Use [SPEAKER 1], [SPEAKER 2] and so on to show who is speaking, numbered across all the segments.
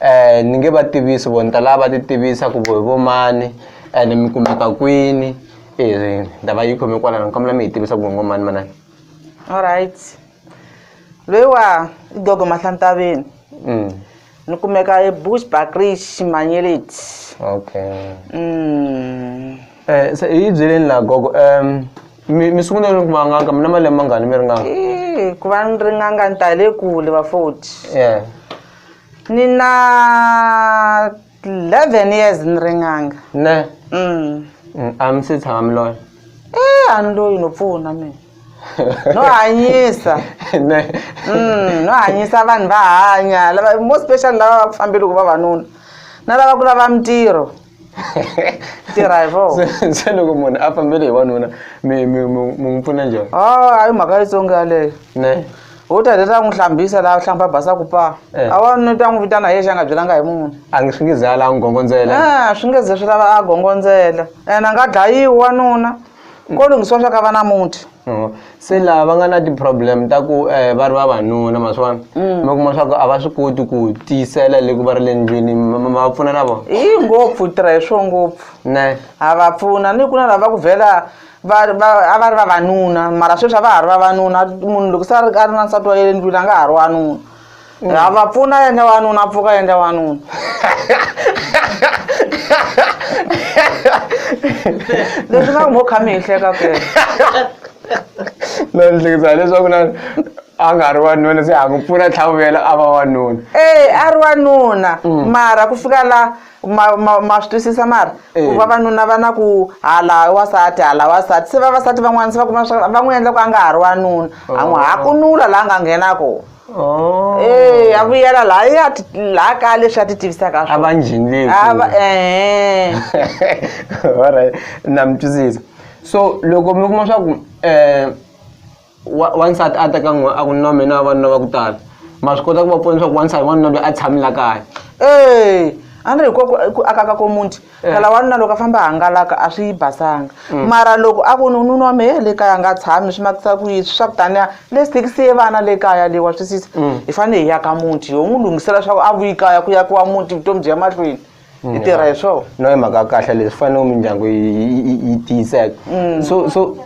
[SPEAKER 1] um ni nge va tivisi vo ni ta lava va ti tivisa ku vo hi vo mani ene mi kumeka kwini e ndava yi khome kwalano ni kombela mi hi tivisa ku vongo mani manani allright
[SPEAKER 2] loyiwa i gogo mahlantaveni mm. ni kumeka ebush bakrish manyeleti
[SPEAKER 1] okay mm. eh, se hi byeleni la gogo um mi sungule ni ku vanganga mi na malembe mangani mi ringanga ku va ni
[SPEAKER 2] ringanga ni ta le kule va foti yeah.
[SPEAKER 1] ni na
[SPEAKER 2] 11 years ni ri n'anga ne mm. mm
[SPEAKER 1] a mi se tshama mi loyi eh a ni
[SPEAKER 2] loyi no pfuna mina no hanyisa ne
[SPEAKER 1] mm no
[SPEAKER 2] hanyisa vanhu va hanya lava most special lava va ku fambeli ku vavanuna na lava ku lava mintirho tirha hi vo Se- se loko munhu a
[SPEAKER 1] fambele hi wanuna mi mi- mi- mi n'wi pfuna njhani a a yi mhaka yitsongo
[SPEAKER 2] yaleyo ne
[SPEAKER 1] u ta heta a n'wi
[SPEAKER 2] hlambisa laha hlamba basa ku paa Eh. a wa ni ta n'wi vitana hi yexe a nga byelanga hi munhu a nge swi nge zala a n'wi
[SPEAKER 1] gongondzela Ah, swi nge ze swi lava a
[SPEAKER 2] gongondzela ene a nga dlayiwi wanuna ko lunghiswa swa ka va na muti Oh, se laha
[SPEAKER 1] va nga na ti-problem ta ku um va ri vavanuna maswona Mm. mi kuma swa ku a va swi koti ku tiyisela le ku va ri le ndlwini ma ma- ma va pfuna na vona hi ngopfu tirha hi swo
[SPEAKER 2] ngopfu ne ha va
[SPEAKER 1] pfuna
[SPEAKER 2] ni ku na lava ku vhela va va- a va ri vavanuna mara sweswi a va ha ri vavanuna munhu loko se a ri a ri na nsati wa yele ndlwini a nga ha ri wanuna Rava pfuna yendla wanuna pfuka yendla wanuna leswi nga mo kha mi hi hleka ku
[SPEAKER 1] no ni hlekisa leswaku na a nga ri wanuna se ha ku pfuna tlhavuvela a va wanuna ee a ri
[SPEAKER 2] wanuna mm. mara ku fika la ma ma ma swi twisisa mara eh. ku vavanuna va na ku hala wasati hala wasati se vavasati van'wana se va kuma swa va n'wi endla ku a nga ha ri wanuna a n'wi oh. hakunula laha nga nghena kona Oh. Eh, a vuyela la ya la ka leswi a ti tivisaka swona. A va njhini A
[SPEAKER 1] va eh. All right. Na mi twisisa. So loko mi kuma swa ku eh wansati a teka n'we a ku na mina vanuna va ku tala. Ma swi kota ku va pfuna leswaku wansati wanuna loyi a tshamela kaya. Eh,
[SPEAKER 2] a ni ri hi ku aka ka ko muti. phela wanuna loko a famba a hangalaka a swi basanga mm. mara loko a ku nununa wa me eh, le kaya a nga tshami swi makisa ku yini swa kutaniya le sitikisiye vana le kaya leyi wa twisisa mm. hi fanele hi yaka muti yo n'wi lunghisela swa ku a vuyi kaya ku ya ku wa muti vutomi byi ya mahlweni hi mm. tirha hi swona no hi mhaka kahle
[SPEAKER 1] leswi fanele mindyangu yi tiyiseka so so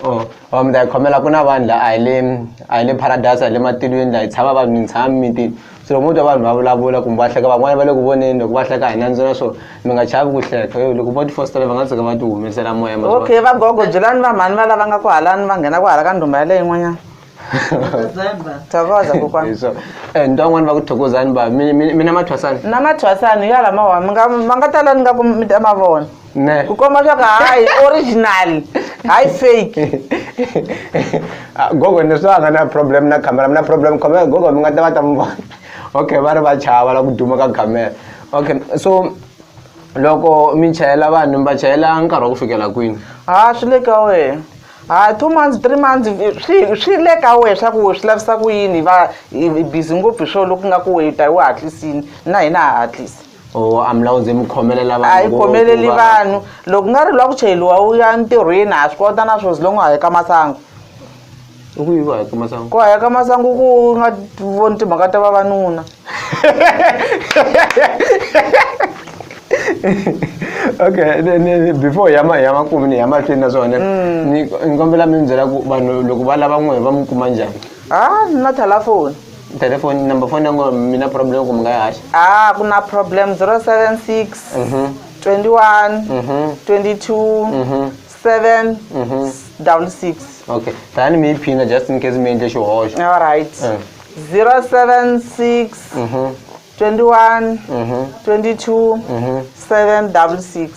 [SPEAKER 1] Oh, oh mi ta yi khomela ku na vanhu la a hi le a hi le paradise a hi le matilweni la hi tshama vanhu mi tshama mimitini so loko mo twa vanhu va vulavula kumbe va hleka van'wana va le ku voneni loko va hleka hi nandzu na swona mi nga chavi ku hleka yo loko vo ti fositela va nga tshuka va ti humesela moya okay vagogo
[SPEAKER 2] byelani vamhani va lava nga ku halani va nghena ku hala ka ndhumba yaleyo yin'wanyana tavaza kokwa eh, so eh ndo van'wana va
[SPEAKER 1] ku thokozani ba mi mi- mi na mathwasani na mathwasani hi yala
[SPEAKER 2] mawa mi nga ma nga tala ni nga ku mi ta ma vona ne ku komba swa
[SPEAKER 1] ku hayi
[SPEAKER 2] original hayi fake Ah,
[SPEAKER 1] gogo ni swa nga na problem na camera mi na problem camera gogo mi nga ta va ta mi vona okay va ri va chava la ku duma ka camera okay so loko mi chayela vanhu mi va chayela nkarhi wa ku fikela kwini ha swi le ka
[SPEAKER 2] wena ha two months three months swi swi le ka wena swa ku swi lavisa ku yini va busy ngopfu hi swona loku nga ku weta u hatlisini na hina ha hatlisi o amlawuze mi
[SPEAKER 1] khomelela a yi khomeleli vanhu
[SPEAKER 2] loko nga ri lwa ku chayeliwa u ya ntirhweni ha swi kota na swo zilongo hayeka masangu
[SPEAKER 1] ku hayeka masangu ku hayeka masangu ku
[SPEAKER 2] nga voni timhaka ta vavanuna
[SPEAKER 1] okay ni- ni- before ya ma- ya makumu ni ya mahlweni na swona ni ni kombela mi ni byela ku vanhu loko va lava n'wehe va mi kuma njhani ha ni na
[SPEAKER 2] telefoni telefoni number
[SPEAKER 1] phone ya n'wehe mi na problem ku mi nga yi haxa ha ku na problem 076 Mhm, 21 mhm,
[SPEAKER 2] 22 mhm, 7 mhm. double six okay
[SPEAKER 1] tani mi yi phina just in case mi endle xihoxo alright Mm.
[SPEAKER 2] 076 21 22 766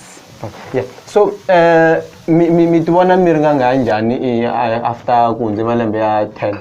[SPEAKER 2] Yeah.
[SPEAKER 1] So uh, mi mi mi tivona mi ri nga nga njhani i- a- after ku hundze malembe ya 10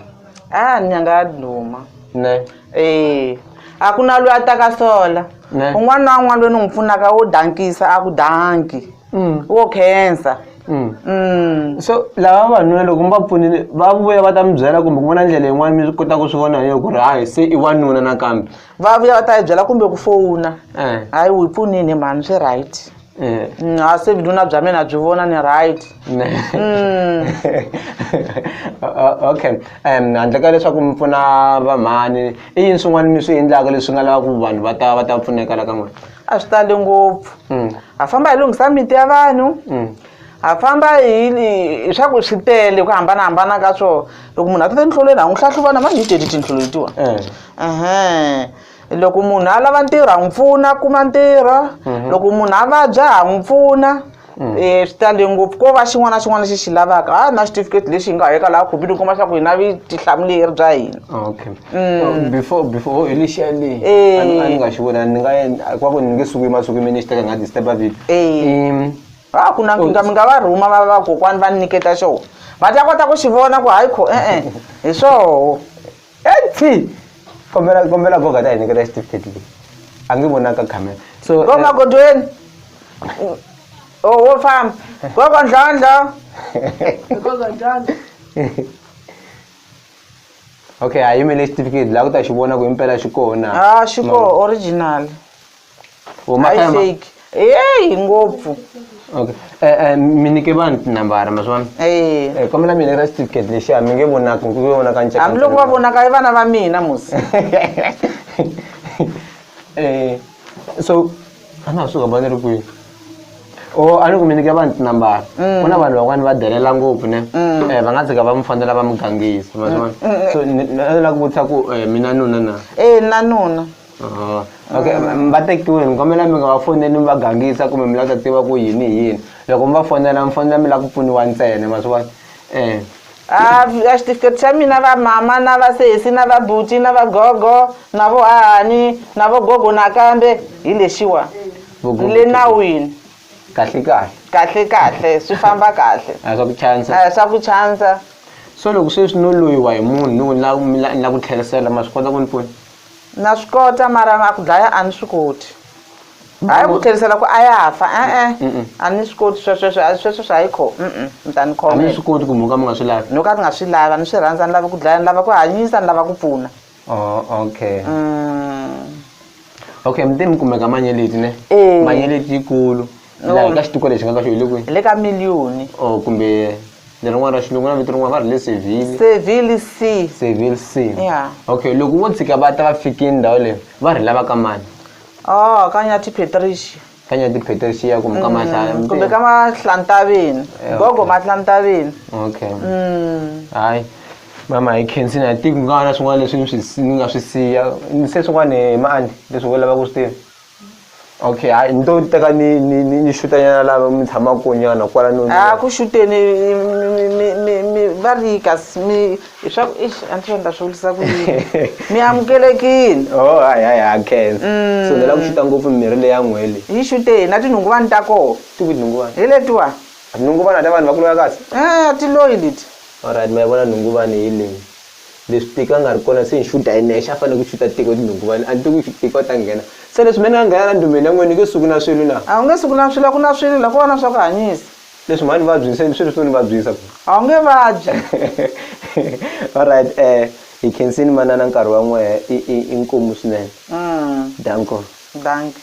[SPEAKER 1] a ni nga duma ne
[SPEAKER 2] Eh,
[SPEAKER 1] a
[SPEAKER 2] ku na loyi a taka sola Ne. un'wana na
[SPEAKER 1] un'wana loyi ni n'wi
[SPEAKER 2] pfunaka wo dankisa a ku danki mm. wo khensa mm. mm.
[SPEAKER 1] so lava vanuna loko mi va pfunile va vuya va ta mi byela kumbe ku vona ndlela yin'wana mi kota ku swi vona hi ku ri hayi se i wanuna nakambe va vuya va ta yi
[SPEAKER 2] byela kumbe ku fowuna eh. hayi wu hi pfunini mhani swi right eh. mm, a se vinuna bya mina byi vona ni right mm.
[SPEAKER 1] okay um handle ka leswaku mi pfuna vamhani i yini swin'wana mi swi endlaka leswi nga lavaka vanhu va ta va ta pfuneka la ka n'wina a swi tali
[SPEAKER 2] ngopfu mm. ha famba hi lunghisa miti ya vanhu mm. ha famba hi swa ku swi tele ku hambanahambana ka swona loko munhu a tata enhlolweni ha n'wi hlahluvana mani hi teli tinhlolo letiwa eh. loko munhu a lava ntirho ha n'wi pfuna kuma ntirho mhm. loko munhu a vabya ha n'wi pfuna um swi tale ngopfu ko va xin'wana na xin'wana lexi xi lavaka ha na xitifiketi lexi hi nga heka laha khompyuta u kuma leswaku hi na vitihlamuleri bya hina okay mm.
[SPEAKER 1] before before oh, initially eh. a ni nga xi vona ni nga kwa ku ni nge suki masuki mi ni xi teka nga disturb a vito ha ku na
[SPEAKER 2] nkingami nga va rhuma va vakokwani va ni nyiketa xona va ta kota ku xi vona ku hayi kho e-e hi swoho ethi
[SPEAKER 1] kombela kombela goga ta hi nyikela certificate leyi a nge vonaka camera so go eh, magodweni
[SPEAKER 2] o wo famba gogo ndlondlo
[SPEAKER 1] okay a yimele certificate laha ku ta xi vona ku impela xi kona a xi ko
[SPEAKER 2] original Umakamba. aiseki eyi ngopfu Okay.
[SPEAKER 1] Eh, eh, mi nyike vanhu tinambara ma swi vona Eh, Eh, kombela mi nyika certificate lexiya mi nge vonaki mi nge vonaka nceka hambiloko va vonaka i vana
[SPEAKER 2] va mina musi
[SPEAKER 1] Eh, so a na ha suka ba ni ri kwihi o a ni ku mi nyike vanhu tinambara ku na vanhu van'wani va delela ngopfu ne Eh, va nga tshika va mi fanela va mi gangisa ma swi vona so ni ni- a ni lava ku vutisa ku eh, mi na nuna na e na nuna
[SPEAKER 2] Ah,
[SPEAKER 1] okay va tekiwile mi kombela mi nga va foneli mi va gangisa kumbe mi lava ta tiva ku yini hi yini loko mi va fonela mi fonela mi lava ku pfuniwa ntsena ma swi vona
[SPEAKER 2] um a a xitifiketi xa mina va mama na va sesi na va buti na va gogo na vo hahani na vo gogo nakambe hi lexiwa le nawini kahle kahle kahle kahle swi famba kahle a swa ku chansa a swa ku
[SPEAKER 1] chansa so loko sweswi no loyiwa hi munhu ni ku ni la ku tlherisela ma swi kota ku ni pfuna Na swi kota
[SPEAKER 2] mara a ku dlaya a ni swi koti hayi ku tlherisela ku a ya fa e-e a ni swi koti swesweswe a sweswe swi hayi kho mm mi ta ni a ni swi koti ku muka mi nga
[SPEAKER 1] swi lavi no ka ni nga swi lava ni swi
[SPEAKER 2] rhandza ni lava ku dlaya ni lava ku hanyisa ni lava ku pfuna oh okay
[SPEAKER 1] mm okay mi te mi kumeka manyeleti ne manyeleti yikulu No. laha ka xituko lexi nga ka xo hi le kwihi le ka miliyoni
[SPEAKER 2] or kumbe
[SPEAKER 1] lerin'wana ra xilungu na vito rin'wana va ri le seville seville c seville c Yeah. okay loko vo tshika va ta va fikini ndhawu leyi va ri lava ka mani oh ka
[SPEAKER 2] nyathi patricia ka nyati
[SPEAKER 1] patricia kumbe ka mahlaya Mm, kumbe ka
[SPEAKER 2] mahlantaveni Eh, gogo okay. mahlantaveni okay Mm.
[SPEAKER 1] hayi mama hi khensini a tiku nga na swin'wana leswi ni swi si- ni nga swi siya ni se swin'wana hi maandi leswi wo lava ku swi tiva okay hayi ni to teka ni ni ni ni xutanyana lava mi tshama konyana kwala no a ku xuteni
[SPEAKER 2] va ri kasi mi leswaku ixi a ni swi endla swi vulisa ku yini mi amukelekile o oh, hayi hayi ha
[SPEAKER 1] khensa mm. so ni lava ku xuta ngopfu mimirhi leyi ya n'hweli yi xuteni na tinhunguvani
[SPEAKER 2] ta koho ti ku tinhunguvani hi
[SPEAKER 1] letiwani
[SPEAKER 2] tinhunguvani ta vanhu va
[SPEAKER 1] kulula kasi a eh, ti loyi leti
[SPEAKER 2] olright ma yi vona
[SPEAKER 1] nhunguvani hi leyi Leswi tiko a nga ri kona se ni xuta hi nexe a fanele ku xuta tiko hi tinhunguvani a ni tivi ku tiko a ta nghena se leswi me ni nga nghena la ndhumeni ya n'wina ni nge suki na swilo na A wu nge suki na swilo a ku na
[SPEAKER 2] swilo la ko va na swa ku hanyisa. leswi mhani vabyini
[SPEAKER 1] se swilo swo ni vabyisa A wu nge vabyi. Alright hi khensini manana nkarhi wa n'wehe i i i nkomu
[SPEAKER 2] swinene
[SPEAKER 1] danko. Dankie.